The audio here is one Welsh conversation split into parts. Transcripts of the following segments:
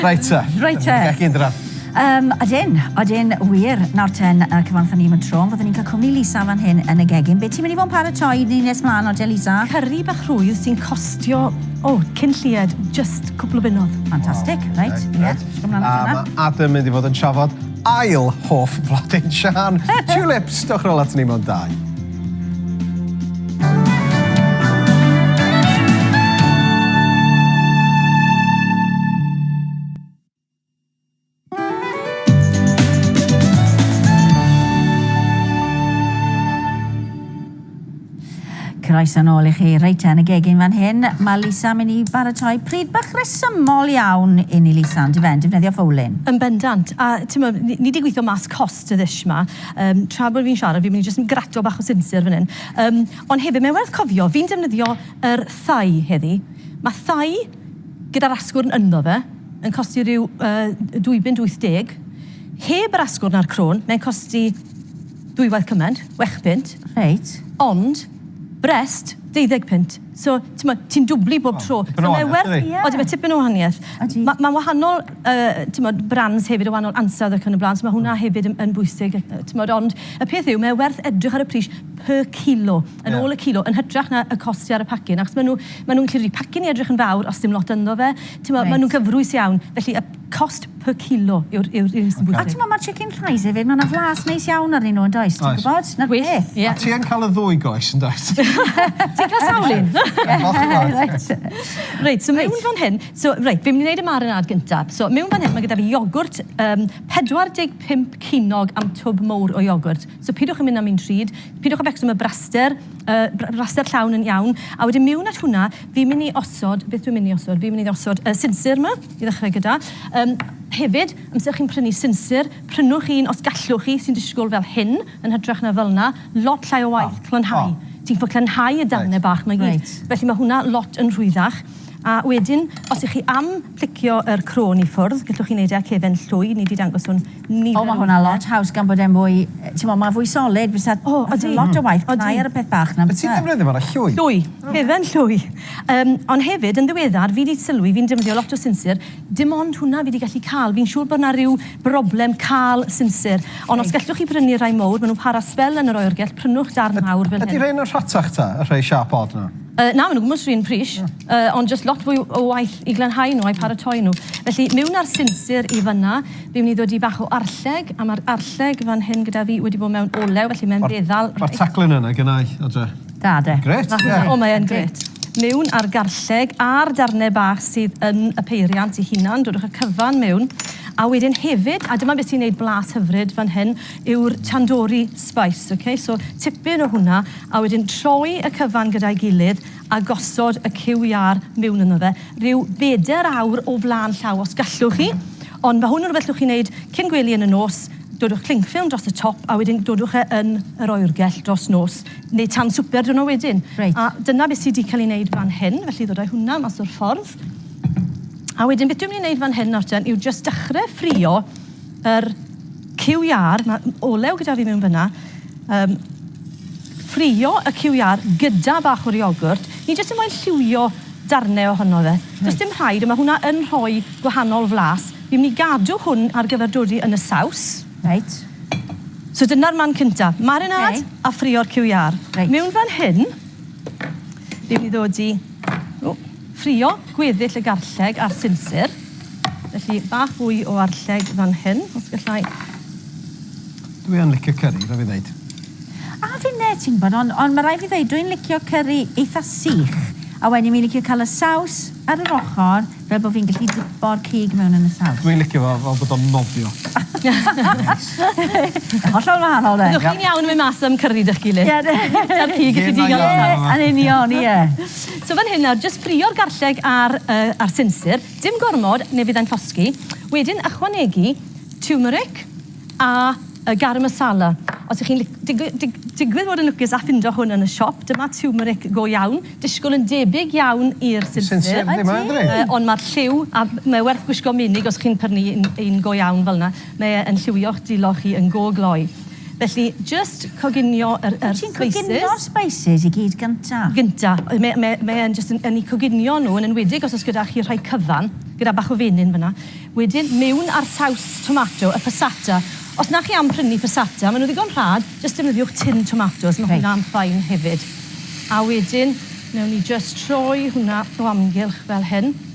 Reit te. Reit te. Ac yn draf. Um, ydyn, ydyn, wir. Nawr ten, uh, cyfanthon ni am y tro, fyddwn ni'n cael cwmni Lisa fan hyn yn y gegin. Be ti'n mynd i fod yn paratoi ni nes mlaen o te, Lisa? Cyrri bach rhwydd sy'n costio, o, oh, cyn llied, just cwpl o bunnodd. Fantastic, wow. reit, ie. Yeah. Right. Um, mae Adam mynd i fod yn trafod ail hoff flodyn Sian. Tulips, dwch rol at ni mewn dau. croeso nôl i chi reit yn y gegin fan hyn. Mae Lisa mynd i baratoi pryd bach resymol iawn i ni Lisa, ond i fe'n defnyddio ffowlin. Yn bendant, a ti'n meddwl, ni wedi gweithio mas cos Sutishma. Yym, tra bod fi'n siarad, fi'n mynd i jyst yn gratio bach o sinsir fan hyn. Yym, ond hefyd, mae'n werth cofio, fi'n defnyddio yr thai heddi. Mae thai gyda'r asgwrn ynddo fe yn costi rhyw uh, dwy bunt wyth deg. Heb yr asgwrn a'r crôn, mae'n costi ddwywaith cymaint, wech bunt. Reit. Ond Brest, deuddeg punt. So, t'mod, ti'n dwbli bob tro. O, tipyn o wahaniaeth, yndydi? So, mae werth... Odi, mae tipyn o wahaniaeth. Odi. Ma', ma'n wahanol, yy, t'mod, brands hefyd, a wahanol ansawdd ac yn y blaen, so ma' hwnna hefyd yn, yn bwysig, yy, t'mod. Ond y peth yw, mae werth edrych ar y pris per kilo, yn ôl y kilo, yn hytrach na y cost sy ar y pacyn, achos ma' nhw, ma' nhw'n gallu... Pacyn i edrych yn fawr, os dim lot ynddo fe, t'mod... Reit. ...ma' nhw'n gyfrwys iawn. Felly, y... Cost per kilo yw'r yw'r un sy'n bwysig. A t'mo' ma'r chicken thighs efyd ma' 'na flas neis iawn arnyn nw yndoes ti'n gwbod? 'Na'r peth. Ie. A ti yn ca'l y ddwy goes yndwyt? Ti'n ca'l sawl un? Reit. Reit so mewn fan hyn so reit fi'n myn' i neud y marinâd gynta. So mewn fan hyn ma' gyda fi iogwrt yym 45 cinog am twb mowr o iogwrt. So pidwch a myn' am un rhud, pidwch a becso am y braster yy br- braster llawn yn iawn a wedyn mewn at hwnna fi'n myn' i osod, beth dwi myn' i osod? Fi myn' i osod y sinsir 'ma. I ddechrau gyda. Yym, hefyd, amser chi'n prynu sinsir, prynwch un os gallwch chi, sy'n disgwyl fel hyn, yn hytrach na fel 'na. Lot llai o waith clonhau. Ti'n gallu clonhau y darnau bach 'ma i gyd. Felly mae hwnna lot yn rhwyddach. A wedyn, os 'y chi am plicio yr crôn i ffwrdd, gallwch chi wneud e â cefen llwy, ni 'di dangos hwn nifer o... O ma hwnna lot haws gan bod e'n fwy t'mo ma fwy solid bysa... O odi. ...lot o waith cnau ar y peth bach na bysa? Wyt ti'n ddefnyddio fo ar y llwy? Llwy. Hufen llwy. Yym ond hefyd yn ddiweddar fi di sylwi fi'n defnyddio lot o sinsir dim ond hwnna fi di gallu ca'l fi'n siŵr bod na ryw broblem ca'l sinsir ond os gellwch chi brynu rhai mowr ma nw'n para sbel yn yr oergell prynwch darn mawr fel hyn. Ydi rhein yn rhatach ta y rhei sharp odd na? Yy na ma nw gwmws run pris yy ond jyst lot fwy o waith i glanhau nw a'u paratoi nw felly miwn a'r sinsir i fynna. Fi'n mynd i ddodi bach o arlleg, a ma'r arlleg fan hyn gyda fi wedi bod mewn olew, felly mae'n feddal reit. Ma'r taglen yna gennai, Adre. Da, de. Grêt, ie. O, mae yn grêt. Mewn â'r garlleg a'r darnau bach sydd yn y peiriant i hunan, dodwch y cyfan mewn, a wedyn hefyd, a dyma beth sy'n neud blas hyfryd fan hyn, yw'r tandoori spice, ok? So, tipyn o hwnna, a wedyn troi y cyfan gyda'i gilydd, a gosod y cyw iâr miwn ynddo fe, ryw bedair awr o flaen llaw os gallwch chi, ond mae hwn yn rhywbeth llwch chi wneud cyn gwely yn y nos, dodwch cling ffilm dros y top a wedyn dodwch e yn yr oergell dros nos, neu tan swper diwrno wedyn. Reit. A dyna beth sy di cael ei wneud fan hyn, felly ddod â hwnna mas o'r ffordd. A wedyn beth dwi'n mynd i wneud fan hyn nawr ten yw jyst dechrau ffrio yr QR, mae olew gyda fi mewn fyna. Um, ffrio y QR gyda bach o'r iogwrt. Ni jyst yn moyn lliwio darnau ohono fe. Does dim rhaid, ond mae hwnna yn rhoi gwahanol flas. Fi'n mynd i gadw hwn ar gyfer dodi yn y saws. Reit. So dyna'r man cynta. Marinad okay. a ffrio'r QR. Reit. Mewn fan hyn, fi'n mynd i ddod i ffrio gweddill y garlleg a'r sinsir. Felly, bach fwy o arlleg fan hyn, os gallai. Dwi yn licio curry, rhaid fi ddeud. A finne, ti'n bod, ond on, mae rhaid fi ddeud, dwi'n licio curry eitha sych. A wedyn fi'n licio cael y saws ar yr ochr, fel bod fi'n gallu dipo'r cig mewn yn y saws. Dwi'n licio fo fel bod o'n nofio. Hollol wahanol de. Byddwch chi'n iawn yn mynd mas am curry dych gilydd. Ie. Ta'r cig i chi digon o saws. Yn union, ie. So fan hyn nawr, jyst ffrio'r garlleg a'r, uh, a'r sinsir. Dim gormod, neu fyddai'n llosgi. Wedyn ychwanegu turmeric a uh, garam masala. Os ych chi'n digwydd, dig, digwydd fod yn lwcus a ffindo hwn yn y siop, dyma turmeric go iawn, disgwyl yn debyg iawn i'r sinsir. Sinsir, ddim ond mae'r lliw, a mae werth gwisgo minig os chi'n pyrnu un, un go iawn fel yna. Mae e yn lliwio'ch dulo chi yn go gloi. Felly, jyst coginio yr yr spices. Wyt ti'n coginio'r spices i gyd gynta? Gynta. Mae mae mae e'n jyst yn yn 'u coginio nhw, yn enwedig os o's gyda chi rhai cyfan, gyda bach o fenyn fan'na. Wedyn, mewn â'r saws tomato, y passata. Os na chi am prynu passata, ma' nhw'n ddigon rhad, jyst defnyddiwch tin tomatos. Reit. Ma' hwnna'n fine hefyd. A wedyn, newn ni jyst troi hwnna o amgylch fel hyn.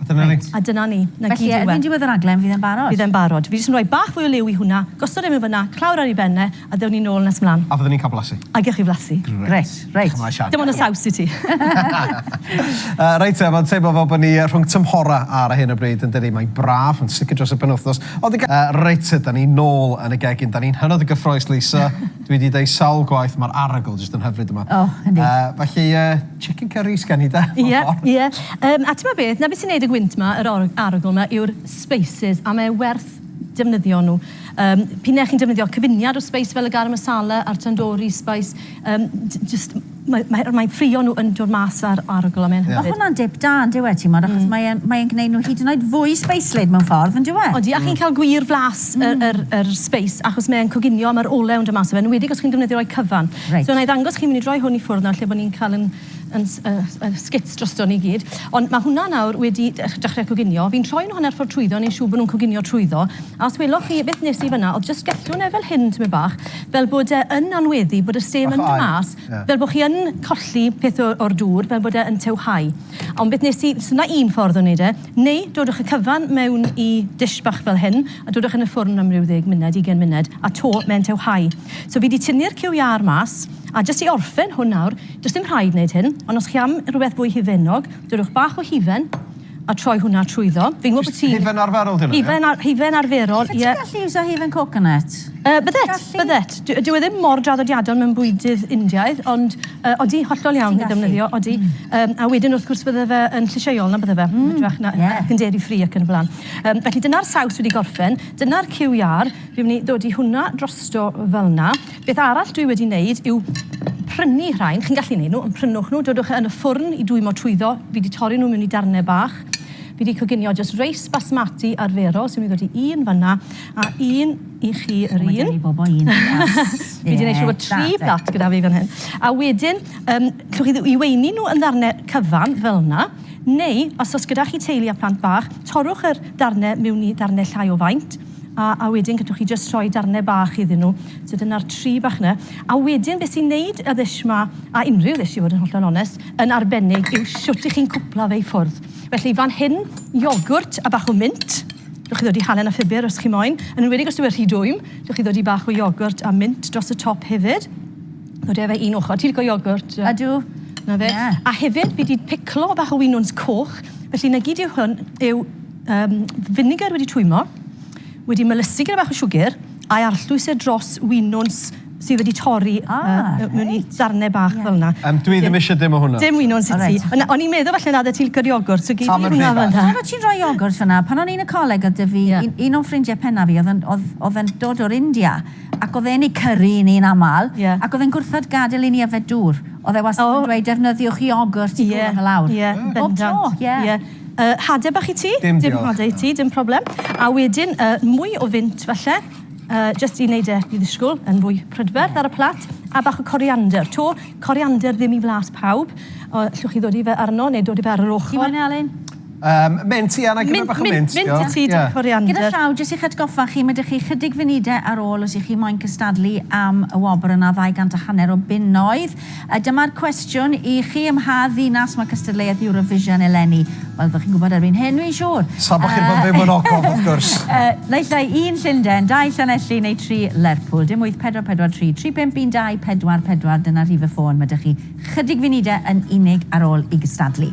A dyna ni. A dyna ni. 'Na gyd yw e. Felly erbyn diwedd y rhaglen fydd e'n barod? Bydd e'n barod. Fi jyst yn rhoi bach fwy o liw i hwnna, gosod e mewn fynna, clawr ar ei ben e, a ddewn ni nôl nes mlan. A fydden ni'n ca'l blasu. A gewch chi flasu. Grêt. Grêt. Reit. Diolch yn fawr Sian. Dim ond y saws i ti. Yy reit te, ma'n teimlo fel bo' ni yy rhwng tymhora ar hyn o bryd yndydi? Mae'n braf, yn sicr dros y penwthnos. Ond y ge- Yy reit te, 'dan ni nôl yn y gegin. 'Dan ni'n hynod o gyffrous Lisa. Dwi 'di deud sawl gwaith ma'r arogl jyst yn hyfryd yma. O, yndi. Yy, felly yy, chicken curry sgen i 'de? Ie, ie. Yym, a t'mo' beth, 'na be' sy'n neud y gwynt 'ma, yr or- arogl 'ma, yw'r spices, a mae e werth defnyddio nhw. Yym, p'un ai chi'n defnyddio cyfuniad o spice fel y garam masala a'r tandoori spice, yym, j- jyst Mae, mae, mae ffrio nhw yn dod mas ar arogl a mae'n hyfryd. Mae hwnna'n dip da, yn dyw e, timod, achos mae e'n, mae e'n gwneud nhw hyd yn oed fwy sbeislyd mewn ffordd, yn dyw e? Odi, a chi'n cael gwir flas y, yr, yr sbeis, achos mae e'n coginio a mae'r olew yn dod mas o fe, yn enwedig os chi'n defnyddio rhai cyfan. Reit. So, wna i ddangos chi, mynd i droi hwn i ffwrdd nawr, lle bod ni'n cael yn, yn, y, y sgits drosto ni i gyd. Ond mae hwnna nawr wedi dech- dechrau coginio. Fi'n troi nhw hanner ffordd trwyddo, wneud siŵr bod nhw'n coginio trwyddo. A os weloch chi, beth wnes i fanna, oedd jyst gellwn e fel hyn, tymed bach, fel bod e yn anweddu, bod y stêm yn dod mas, fel bod chi yn colli peth o, o'r dŵr, fel bod e yn tywhau. Ond beth nes i, so 'na un ffordd o wneud e, neu dodwch y cyfan mewn i dish bach fel hyn, a dodwch yn y ffwrn am ryw ddeg munud, ugain munud, a 'to mae'n tywhau. So fi 'di tynnu'r cyw iâr mas, a jyst i orffen hwn nawr, does dim rhaid wneud hyn, ond os chi am rywbeth fwy hufennog, dodwch bach o hufen, a troi hwnna trwyddo. Fi'n gwybod bod ti'n... Jyst hufen arferol ydyn nhw, ie? Hufen ar- hufen arferol, ie. Allet ti gallu iwsio hufen coconut? Yy, byddet, Gallu. byddet. Dy- dyw e ddim mor draddodiadol mewn bwydydd Indiaidd, ond yy, odi, hollol iawn Ti'n gallu. i ddefnyddio, odi. Yym, a wedyn, wrth gwrs, bydde fe yn llysieuol, na bydde fe? Yn hytrach na- ie. ac yn dairy free ac yn y blaen. Yym, felly dyna'r saws wedi gorffen, dyna'r cyw iâr, fi'n myn' i ddodi hwnna drosto fel 'na. Beth arall dwi wedi neud yw prynu rhain, chi'n gallu neud nhw, ond prynwch nhw, dodwch e yn y ffwrn i dwymo trwyddo, fi di torri nhw mewn i darne bach, fi di coginio jyst reis basmati arferol sy'n mynd i ddod i un fanna, a un i chi yr un. O, mae gen i bobo un plas. Fi di neud siŵr bod tri plat gyda fi fan hyn. A wedyn, um, llwch chi i weini nhw yn ddarne cyfan, fel yna, neu, os os gyda chi teulu a plant bach, torrwch yr darne mewn i darne llai o faint, A, a wedyn gallwch chi jyst rhoi darnau bach iddyn nhw. So dyna'r tri bach yna. A wedyn beth sy'n wneud y ddish ma, a unrhyw ddish i fod yn hollol onest, yn arbennig yw shwt i chi'n cwpla fe i ffwrdd. Felly fan hyn, iogwrt a bach o mint. Gallwch chi ddod i halen a phupur os chi moyn. Yn enwedig os yw e rhy dwym, gallwch chi ddod i bach o iogwrt a mint dros y top hefyd. Ddod â fe un ochr. Ti'n lico iogwrt? Ydw. 'Na fe. Ie. A hefyd fi 'di piclo bach o winwns coch, felly 'na gyd yw hwn yw um, vinegar wedi twymo, wedi melysu gyda bach o siwgr, a'i arllwys e dros winwns sydd wedi torri ah, uh, mewn i ddarnau bach yeah. fel yna. Um, dwi ddim eisiau dim o hwnna. Dim wyno'n sy'n ti. O'n i'n meddwl falle nad y ti'n gyrru ogwr, so gyd i hwnna fel yna. Pan ti'n rhoi ogwr fyna, pan o'n i'n y coleg oedd dyfu, yeah. un, un o'n ffrindiau penna fi oedd yn dod o'r India, ac oedd e'n ei cyrru i ni'n aml, yeah. ac oedd e'n gwrthod gadael i ni yfed dŵr. Oedd e wastad yn oh. dweud, defnyddiwch i ogwr ti'n yeah. gwrdd y lawr. Yeah. Bob tro, ie. Yeah. Yy, hade bach i ti? Dim diolch. Dim hade i ti, dim problem. A wedyn, yy, mwy o fynt falle, uh, just i wneud e i ddisgwyl yn fwy prydferth ar y plat, a bach o coriander. To, coriander ddim i flas pawb. O, llwch chi ddod i fe arno, neu dod i fe ar yr ochr. Ti'n mynd Alun? Um, mint, ia, na gyda bach o mint. Mint i ti, yeah. coriander. Gyda llaw, jyst i'ch atgoffa chi, mae ydych chi chydig funudau ar ôl os ych chi moyn cystadlu am y wobr yna 200 a hanner o bunnoedd. A dyma'r cwestiwn i chi, ym mha ddinas mae cystadleuaeth Eurovision eleni? Wel, fel chi'n gwybod erbyn hyn, dwi'n siŵr! Tra bod chi'n bod ddim yn ogof, wrth gwrs! Naill ai un Llundain, dau Llanelli neu tri Lerpwl. Dim 8443 351 24 44, dyna rhif y ffôn. Mae 'da chi 'chydig funudau yn unig ar ôl i gystadlu.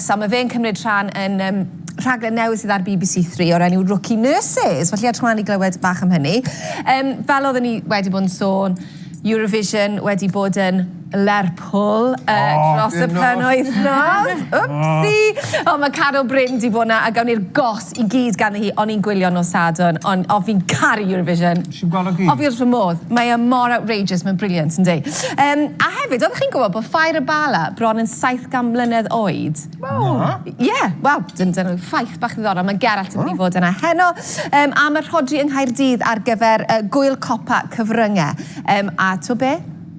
So mae fe'n cymryd rhan yn um, rhaglen newydd sydd ar BBC Three o'r enw Rookie Nurses. Felly edrych ymlaen i glywed bach am hynny. Um, fel oedden ni wedi bod yn sôn, Eurovision wedi bod yn Lerpwl uh, oh, dros y penwythnos. Wpsi! Oh. oh, mae Carol Bryn di bod yna a gawn ni'r gos i gyd ganddi hi o'n i'n gwylio nos Sadwrn o'n o fi'n caru Eurovision. Nes i'm gweld o gyd. O fi wrth fy modd. Mae e mor outrageous mae'n brilliant yndi? Yym a hefyd oeddech chi'n gwybod bod Fire Abala bron yn 700 mlynedd oed? Waw. Na. Ie wel dyn- dyna yw ffaith bach ddiddorol ma' Gerallt yn mynd i fod yna heno yym am y rhodri yng Nghaerdydd ar gyfer yy gŵyl copa cyfrynge yym a t'wo' be'?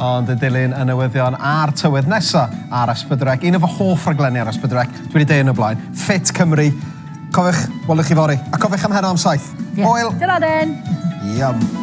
Ond yn dilyn y newyddion a'r tywydd nesa ar Esbydrec, un o fy hoff raglenni ar Esbydrec, dwi wedi deud yn y blaen, Fit Cymru. Cofiwch, welwch chi fori, a cofiwch am heno am saith. Yeah. Hwyl! Dyna den! Yum.